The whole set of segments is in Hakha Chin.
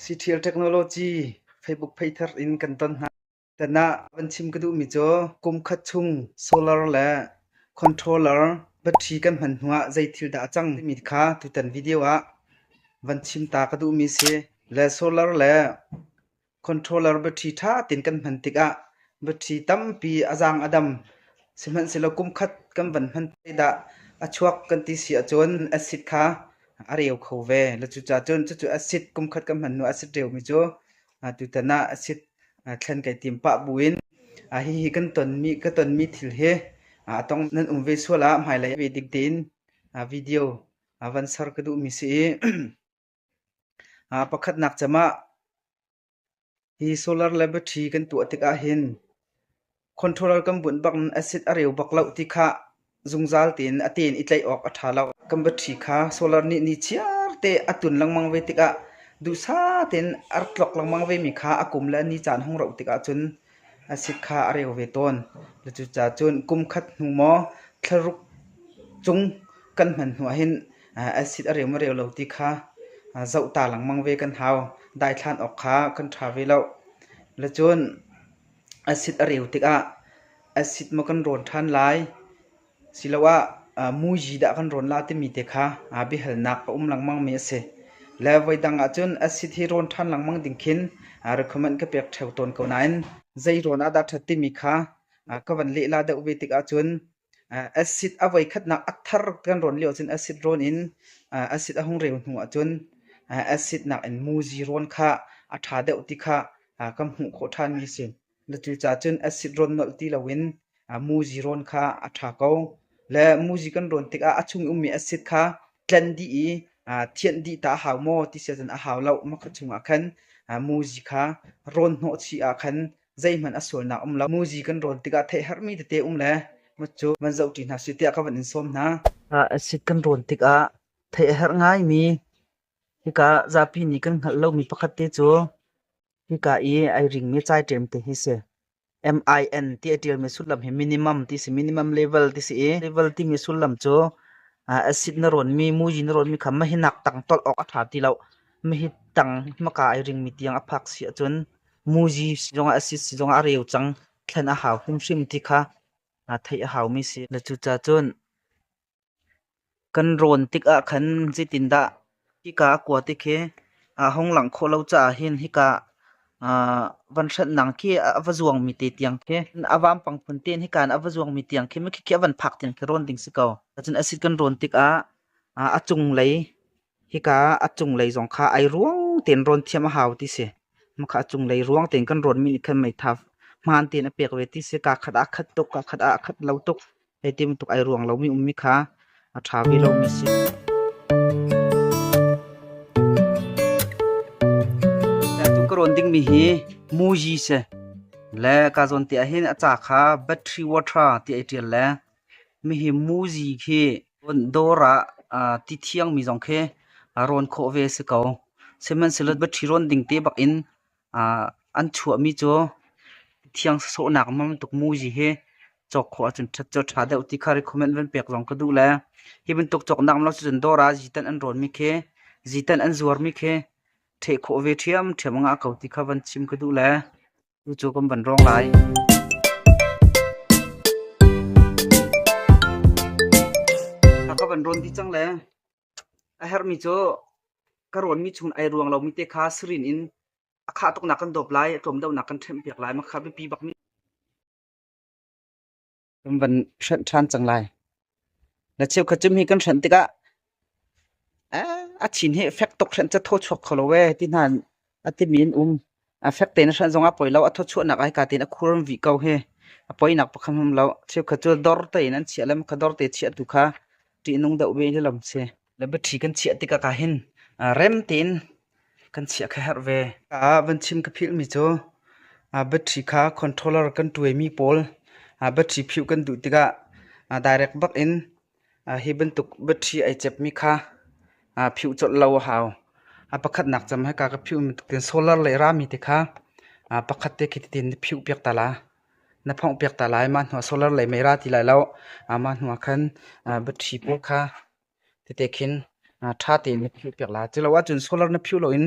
Siṭhial technology Facebook phei thar in kan ton hna. Tan ah van chim ka duhmi cu kum khat chung solar le controller battery kan hman hnu ah zei thil dah a cang timi kha tutan video ah van chim ta ka duhmi a si. Le solar le Controller battery ṭha tein kan hman tikah battery tampi a zaang a dam. Sihmanhsehlaw kumkhat kan van hman dah a chuak kan ti si ahcun acid kha a reu kho ve. Le cucaah cun cucu acid kumkhat kan hman hnu acid reumi cu tutan ah acid thlen kai tim pah buin hihi kan tonmi ka tonmi thil hi a tong nan um ve sual ah hmailei ah ve dik tein video van ser ka duhmi si i Aa pakhatnak cem ah hi solar le battery kan tuah tikah hin controller kan bunh bak in acid a reu bak loh ti kha zungzal tein a tein i tlaih awk a ṭha lo. Kan battery kha solar nih nichiar te a tun lengmang ve tikah duhsah tein a tlok lengmang vemi kha a kum le a ni caan hung rauh tikah cun A si kha a reu ve tawn. Cucaah cun kum khat hnu maw thlaruk cung kan hman hnuah hin acid a reu maw reu lo ti kha zoh ta lengmang ve kan hau. Daithlan awk kha kan ṭha ve loh. Cun acid a reu tikah acid maw kan rawn ṭhan lai, Siloah muizi dah kan rawn la timi te kha biahalnak a um lengmangmi a si. Le voidang ahcun acid hi rawn ṭhan lengmang ding khin recommend ka pek ṭheo tawn ko nain zei rawn ah dah ṭhat timi kha ka van lehla deuh ve tik ahcun acid a voikhatnak a thar kan rawn lio ahcun acid rawn in acid a hung reu hnu ahcun acid nakin muizi rawn kha a ṭha deuh ti kha ka hmuh khawh ṭhanmi a si. Na cuca cun acid rawn nolh ti loin muzi rawn kha a ṭha ko. Le muzi kan rawn tikah a chung i ummi acid kha tlen dih i thianh dih tah a hau maw ti sia cun a hau lo. Mah ka chungah khan muzi kha rawn hnawhchih ah khan zeihmanh a sualnak a um lo. Muzi kan rawn tikah theihherhmi tete um le cu van zohṭi hna sih tiah ka van in sawm hna. Acid kan rawn tikah theihherh ngaimi hika zapi nih kan hngalh lomi pakhat te cu Hika i ai ringmi caiṭem te hi si. MIN ti a ṭialmi sullam hi minimum ti si, minimum level ti si i level timi sullam cu acid na rawnmi, muji na rawnmi kha mahi nak tang tolh awk a ṭha ti lo. Mahi tang hmaka ai ringmi tiang a phak si ahcun muji zongah acid si zongah a reu cang. Thlen a hau hrimhrim ti kha theih a haumi si. Na cucacun Kan rawn tik ahkhan zeitindah hika a kua ti khi aa hong langh khawh lo caah hin hika ah van hremnak khi a va zuangmi te tiang khi a vampang phun tein hika in a va zuangmi tiang khi mikhikhi a van phak tiang khi rawn ding si ko. Cun a si kan rawn tikah a cunglei hika a cunglei zong kha ai ruang tein rawn thiam a hau ti si. Makha a cunglei ruang tein kan ruanmi nih khan meitha hmaan tein a pek ve ti si. Kaa khat ah a khat tuk, kaa khat ah a khat lo tuk. Hei ti bantuk ai ruang lomi ummi kha a ṭha ve lomi a si. Atu ka rawn dingmi hi muji si. Le ka zawn te ahhin a ca kha battery water ti ai ṭial le Hihi muzi khi dawr ah ti thiangmi zong khi rawn khawh ve a si ko. Sihmanhsehlaw battery rawn ding te bak in an chuahmi cu thiang sawhnak ma bantuk muzi hi cawk khawh ahcun ṭhat cu a ṭha deuh ti kha recommend van pek zong ka duh le hi bantuk cawknak ma lo cu cun dawr ah zitanh an rawnmi khi zitanh an zuarmi khi ṭheh khawh ve ṭhiamṭhiam anga a ko ti kha van chim ka duh le. Cu kan van rawng lai. A ka van rawn di cang le a hermi cu ka rawn mi chung ai ruang lomi te kha sirin in a khah tuk nak kan dawp lai a tlawm deuh nak kan ṭhemh piak lai ma kha biapi bak mi kan van hrenh ṭhan cang lai. Na cheukhat cu mi kan hrenh tikah a chin hi fek tuk hrenh cu thaw chuak kho lo ve ti hna a timi in um a fek tein hrenh zong a poi lo a thaw chuahnak ai ka tein a khur vi ko hi a poinak pakhat hum lo cheukhat cu dor tein an chiah le kha dor te chiah tu kha ṭihnung deuh ve hi lam si Le battery kan chiah tikah ka hin rem tein kan chiah kha herh ve. Ah van chim ka philh mi cu battery kha controller kan tuaimi pawl battery phih kan duh tikah direct bak in hi bantuk battery ai cepmi kha phih colh lo a hau. Pakhatnak cam hika ka phih mi tuk tin solar le rami te kha pakhat te khi titin na phih piak ta la. Na phonghpiak ta lai. Mah hnuah solar lei mei ra ti lai lo. Mah hnuah khan battery pawl kha tete khin ṭha tein na phihpiak lai. Cu lo ahcun solar na phih loin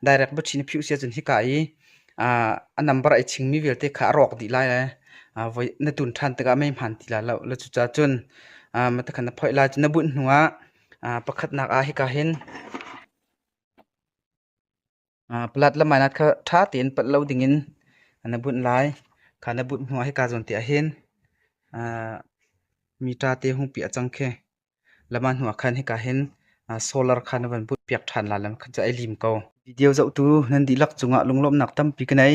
direct battery na phih usih ahcun hika i a number ai chingmi vialte kha a rawk dih lai le na tun ṭhan tikah mei hmaan ti lai lo. Le cucaah cun mah khan na phoih lai. Na bunh hnuah pakhatnak ah hika hin Palat lam ai nat kha ṭha tein palh lo dingin na bunh lai. Kha na bunh hnuah hika zawn te ahhin mi ṭa te hung piah cang khi. Lama hnuah khan hika hin solar kha na van bunh piak ṭhan lai lam kha cu ai lim ko. Video zohtu nan dihlak cungah lunglawmhnak tampi ka nei.